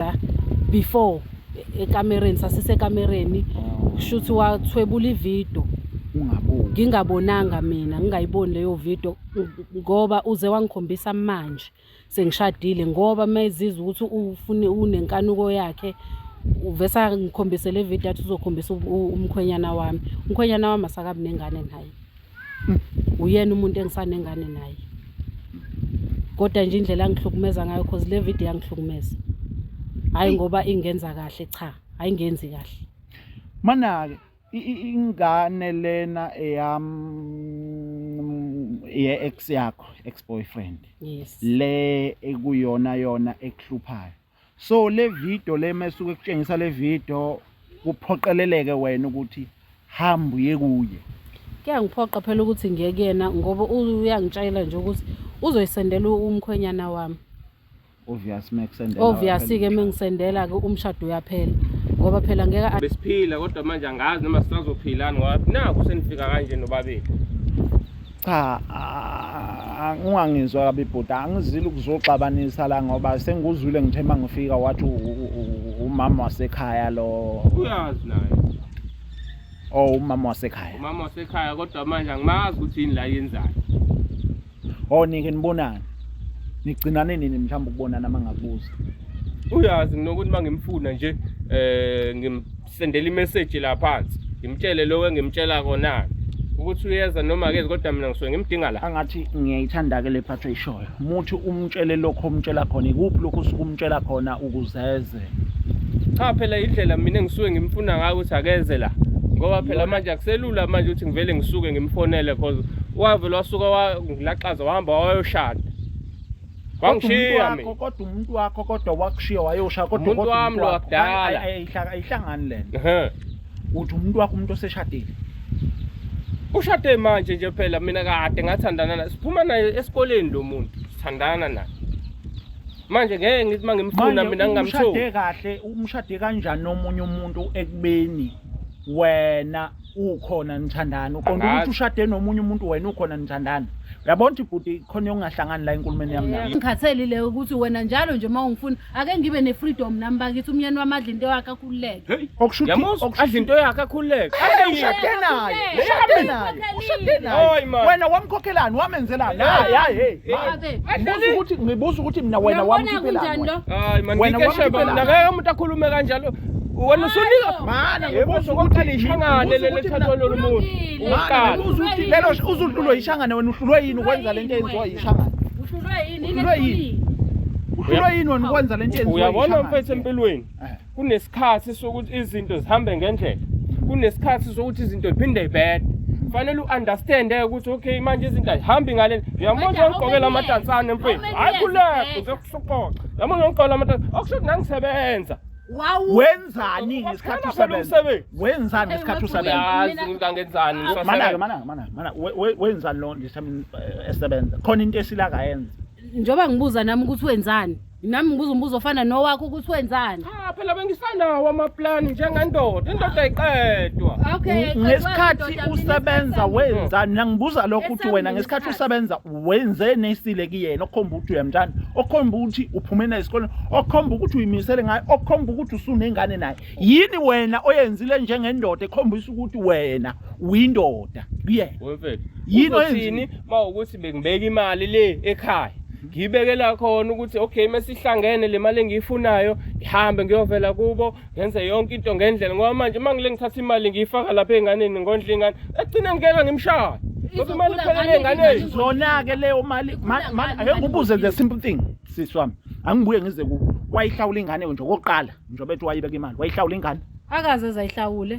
la before e- ekamereni sasisekamereni kusho ukuthi wathwebula ividiyo ungaboni ngingabonanga mina ngingayiboni leyo video ng- ngoba uze wangikhombisa manje sengishadile ngoba mezizwa ukuthi ufune unenkanuko yakhe uvesa ngikhombise le video athi uzokhombisa u- u- umkhwenyana wami umkhwenyana wami asakabi nengane naye uyena umuntu engisanengane naye kodwa nje indlela angihlukumeza ngayo cause le video yangihlukumeza hayi ngoba ingenza kahle cha hayi ngenzi kahle manake ingane lena eyam ye ex yakho ex boyfriend yes le ekuyona yona ekuhluphayo so le video le mesuke kutshengisa le video kuphoqeleleke wena ukuthi hamba uye kuye kuyangiphoqa phela ukuthi ngiye kuyena ngoba uyangitshayela nje ukuthi uzoyisendela umkhwenyana wami obvious mekusendela obvious ke mengisendela ke umshado uyaphela ngoba phela ngeke besiphila kodwa manje angazi noma sisazophilani ngoba naku senifika kanje nobabili cha ungangizwa kabi bhuti angizile ukuzoxabanisa la ngoba sengikuzwile ngithe uma ngifika wathi umama wasekhaya lo uyazi naye o oh, umama wasekhaya umama wasekhaya kodwa manje angimazi ukuthi yini la yenzayo o oh, nike nibonani nigcinane nini mhlawumbe ukubonana uma ngakubuza uyazi nginokuthi uma ngimfuna nje um sendela imeseji la phansi ngimtshele lokho engimtshela kona ukuthi uyeza noma akezi kodwa mina ngisuke ngimdinga la angathi ngiyayithanda ke le part ayishoyo muthi umtshele lokho umtshela khona ikuphi lokho usuke umtshela khona ukuzeze cha phela indlela mina engisuke ngimfuna ngayo ukuthi akeze la ngoba phela manje akuselula manje ukuthi ngivele ngisuke ngimfonele cause wavele wasuka wangilaxaza wahamba wayoshada Wangishiya mina. Kodwa umuntu wakho kodwa wakushiya wayosha kodwa umuntu wami lo wakudala. Ayihlangani lena. Uthi umuntu wakho umuntu oseshadile. Ushade manje nje phela mina kade ngathandana naye. Siphuma naye esikoleni lo muntu. Sithandana naye. Manje ngeke ngithi mangimfuna mina ngingamthola. Umshade kahle, umshade kanjani nomunye umuntu ekubeni wena ukhona nithandani uqonda ukuthi ushade nomunye umuntu wena ukhona nithandani uyabona ukuthi bhuti khona yokungahlangani la enkulumeni yami nayo ngikhatheli le ukuthi wena njalo nje uma ungifuna ake ngibe ne-freedom nami bakithi umnyeni wami adla into yakhe akhululeke adla into yakhe akhululeke ushade naye ushade naye ushade naye wena wamkhokhelani wamenzelani hayi hayi ngibuza ukuthi ngibuza ukuthi mina wena wamkhiphelani wena wamkhiphelani umuntu akhulume kanjalo wena usunika mana ngibuza ukuthi lishangane lelithathwa lolu muntu uqala ubuza ukuthi lelo uzuhlulwe yishangane wena uhlulwe yini ukwenza lento eyenziwa yishangane uhlulwe yini uhlulwe yini uhlulwe yini wena ukwenza lento eyenziwa uyabona mfethu empilweni eh. kunesikhathi sokuthi izinto zihambe ngendlela kunesikhathi sokuthi izinto ziphinde ibede fanele u-understand eh, ukuthi okay manje izinto ayihambi ngale uyamona ugqokela amatansane mfethu hayi kuleko uzokusuqoqa yamona ugqokela amatansane okusho ukuthi nangisebenza wenzani ngesikhathi usebenza wenzani ngesikhathi usebenza ngangenzani mana mana mana mana wenzani lo ndisemini eh, esebenza khona into esila kayenza njoba ngibuza nami ukuthi wenzani nami ngibuza umbuzo ofana nowakho ukuthi wenzani cha phela bengisanawo amaplan njengendoda indoda ayiqedwa okay ngesikhathi usebenza wenzani nangibuza lokho ukuthi wena ngesikhathi usebenza wenze nesile kuyena okhomba ukuthi uyamthanda okhomba ukuthi uphume naye esikoleni okhomba ukuthi uyimisele ngayo okhomba ukuthi usunengane naye yini wena oyenzile njengendoda ekhombisa ukuthi wena uyindoda kuyena wemfethu yini oyenzini mawukuthi bengibeka imali le ekhaya ngiyibekela khona ukuthi okay mesihlangene le mali engiyifunayo ihambe ngiyovela kubo ngenze yonke into ngendlela ngoba manje uma ngile ngithatha imali ngiyifaka lapha enganeni ngondla ingane ekugcina ngikela ngimshaya ngoba imali iphelele enganeni zona-ke leyo mali ake ngibuze the simple thing sisi wami angibuye ngize ku wayihlawula ingane nje okokuqala njengoba ethi wayibeka imali wayihlawula ingane akaze zayihlawule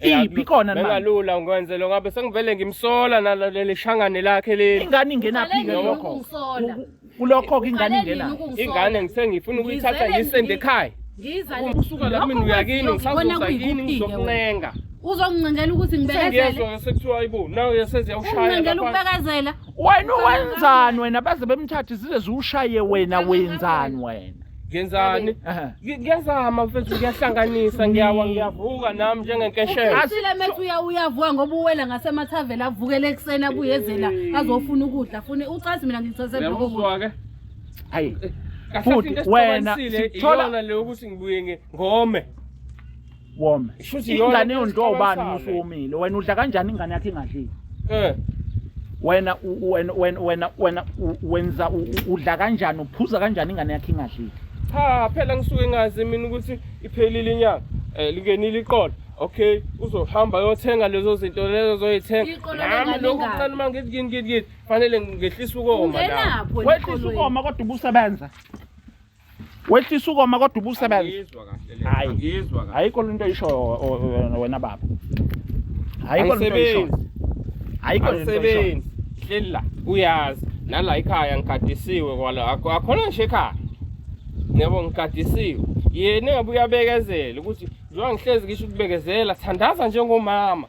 iphi khona manje bengalula ngikwenzele ngabe sengivele ngimsola naleli shangane lakhe leli ingane ingenaphi ke lokho kulokho ke ingane ingena ingane ngisengifuna ukuyithatha yisende ekhaya ngiza usuka la mina uyakini ngisazoza kini ngizokuncenga uzongincengela ukuthi ngibekezele sekuthiwa ibu nawe yeseze yawushayela ukubekezela wena wenzani wena baze bemthathe zize ziwushaye wena wenzani wena ngenzani Aha. Ngi- ngiyazama mfethu ngiyahlanganisa ngiyawa ngiyavuka nami njengenkeshela Asile methu uya uyavuka ngoba uwela ngasemathaveni avukele ekuseni abuyezela azofuna ukudla fune ucazi mina ngithathe lokho. uyamuzwa-ke Hayi. Kahle Futhi into wena esixabanisile sithola- iyona le yokuthi ngibuye nge- ngome wome Shuthi yona ingane into yondliwa ubani esixabanisayo musu le. womile wena udla kanjani ingane yakhe ingadlile Eh, wena u- u- wena wena wena wena u- wenza u- u- udla kanjani uphuza kanjani ingane yakhe ingadlile cha phela ngisuke ngazi mina ukuthi iphelile inyanga eh lingenile iqolo okay uzohamba yothenga lezo zinto lezo zoyithenga Iqolo nami lengane lokhu ingaka. kuncane uma ngithi ngini ngini ngini fanele ngehlisa ukoma nami Ungenapho wehlisa eqolweni. ukoma kodwa ubusebenza wehlisa ukoma kodwa ubusebenza hayi ayikho lento isho wena baba ayikho lento isho ayikho lento isho hlela uyazi nala ikhaya ngikadisiwe kwala akhona nje ekhaya yebo ngikadisiwe yena ngabe uyabekezela ukuthi njengoba ngihlezi ngisho ukubekezela thandaza njengomama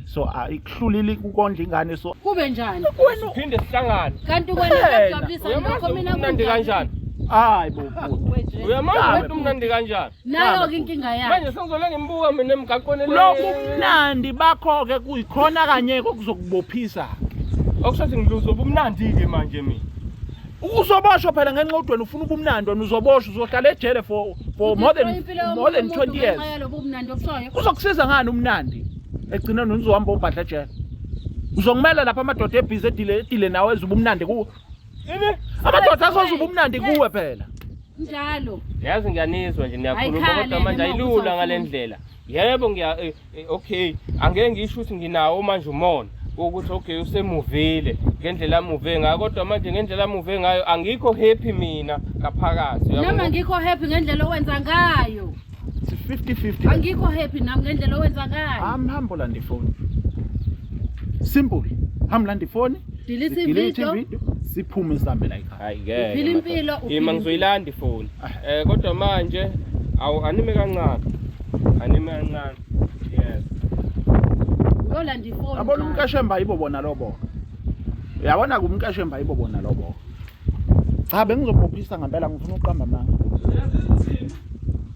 so ayikuhlulile ukondla ingane so kube njani siphinde sihlangane kanti wena kuyajabulisa lokho mina kumnandi kanjani hayi bo uyamazi ukuthi umnandi kanjani nayo ke inkinga yakhe manje sengizole ngimbuka mina emgaqweni lokhu umnandi bakho ke kuyikhona kanye kokuzokubophisa okusho ukuthi ngiluzo ubumnandi ke manje mina uzoboshwa phela ngenxa ukuthi wena ufuna ubumnandi wena uzoboshwa uzohlala ejele for for more than more than 20 years uzokusiza ngani umnandi egcine nonizohamba obhadla ejele uzongimela lapha amadoda ebhizi edile edile nawe ezuba umnandi kuwe amadoda azozuba umnandi kuwe phela njalo yazi ngiyanizwa nje niyakhuluma kodwa manje ayilula ngale ndlela yebo ngiya eh, eh, okay angeke ngisho ukuthi nginawo manje umona ukuthi okay usemuvile ngendlela amuve ngayo kodwa manje ngendlela amuve ngayo angikho happy mina ngaphakathi noma ngikho happy ngendlela owenza ngayo 50-50 angikho happy nami ngendlela owenza ngayo hamba hamba olanda ifoni simple hamba landa ifoni delete video siphume sihambe la ekhaya hayi ngeke uphila impilo ima ngizoyilanda ifoni ah. eh kodwa manje awu anime kancane anime kancane yes uyolanda ifoni abona umkashemba yibo bona lobo uyabona kumkashemba yibo bona lobo cha bengizobophisa ngempela ngifuna ukuqamba amanga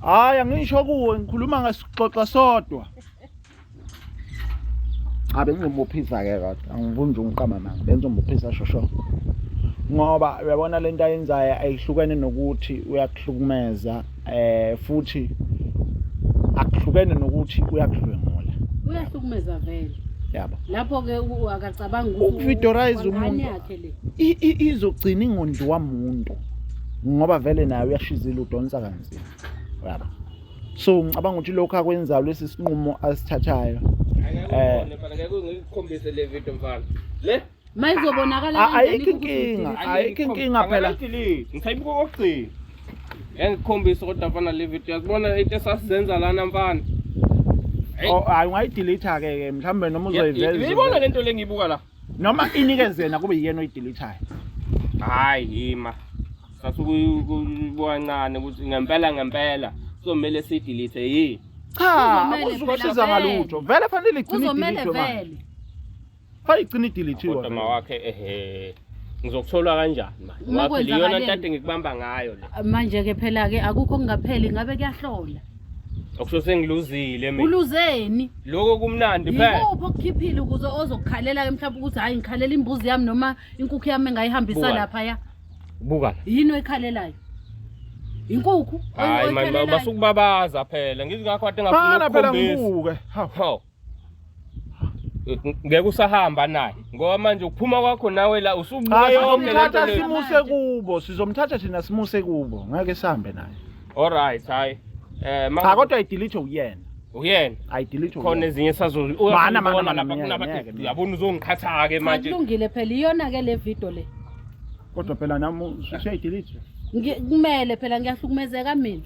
hayi angisho kuwe ngikhuluma ngesixoxa sodwa cha bengizobophisa ke kodwa angifuni nje ungiqamba amanga bengizobophisa shosho ngoba uyabona lento ayenzayo ayihlukene nokuthi uyakuhlukumeza eh futhi akuhlukene nokuthi uyakudlwengula uyahlukumeza vele yabo lapho ke akacabanga ukuvidorize umuntu yakhe le izogcina ingondli wamuntu ngoba vele naye uyashizila udonsa kanzima yabo so ngicabanga ukuthi lokho akwenzayo lesi sinqumo asithathayo eh ngikukhombise le video mfana le mayizobonakala A- kanjani ayikho ukuthi inkinga udidile? ayikho inkinga phela Angayidelete, ngisayibuka okugcina yangikhombisa kodwa mfana le video yakubona into esasizenza lana mfana Hey. Oh, hayi ungayidelete ke ke mhlawumbe noma Ya- ya- niyibona uzoyiveza lento le ngiyibuka la noma inikeze yena kube yiyena oyideletayo hayi yima sasukuyibwancane ukuthi ngempela ngempela somele siyidelete yini cha Kuzomele akuzukwashiza phela ngalutho vele fanele igcine kuzomele idelete manje vele Hayi gcina idilithiwa. Kodwa mawakhe ehe. Ngizokuthola kanjani manje? Uma Waphela iyona kwenzakaleni? ntate ngikubamba ngayo le. manje ke phela ke akukho kungapheli ngabe kuyahlola Okusho sengiluzile mina. uluzeni Lokho kumnandi phela. yikuphi okukhiphile ukuze ozokukhalela ke mhlawumbe ukuthi hhayi ngikhalela imbuzi yami noma inkukhu yami engayihambisa Buka. laphaya Buka la. yini oyikhalelayo inkukhu oy- Hayi manje oyikhalelayyo? basukubabaza phela. Ngizingakho kade ngafuna Qala phela ukukhombisa. ngibuke. Hawu. Hawu. ngeke usahamba naye ngoba manje ukuphuma kwakho nawe la usubuyomthatha simuse kubo sizomthatha thina simuse kubo ngeke sihambe naye alright hayi eh cha kodwa idelete uyena uyena ayidelete khona ezinye esazozibona yabona uzongiqhatha ke manje kulungile phela iyona ke le video le kodwa phela nami usuyayidelete kumele phela ngiyahlukumezeka mina